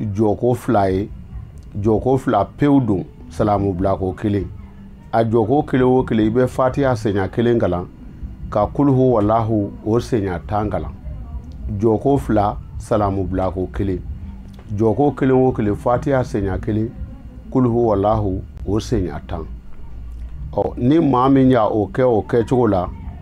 jɔko fila ye jɔko fila pewu don salamu bilako kelen a jɔko kelen o kelen i bɛ fatiya senya kelen kalan ka kuluhu walahu o senya tan kalan jɔko fila salamu bilako kelen jɔko kelen o kelen fatiya senya kelen kuluhu walahu o senya tan ɔ ni maa min y'a o kɛ o kɛcogo la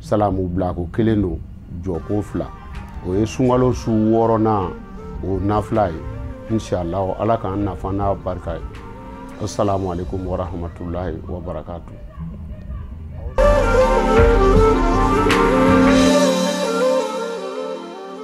salamu bilako kelen don jɔko fila o ye sunkalo su wɔɔrɔnan o nafila ye inshallah ala k'an nafa n'a barika ye assalamu alaikum warahmatullahi wabarakatu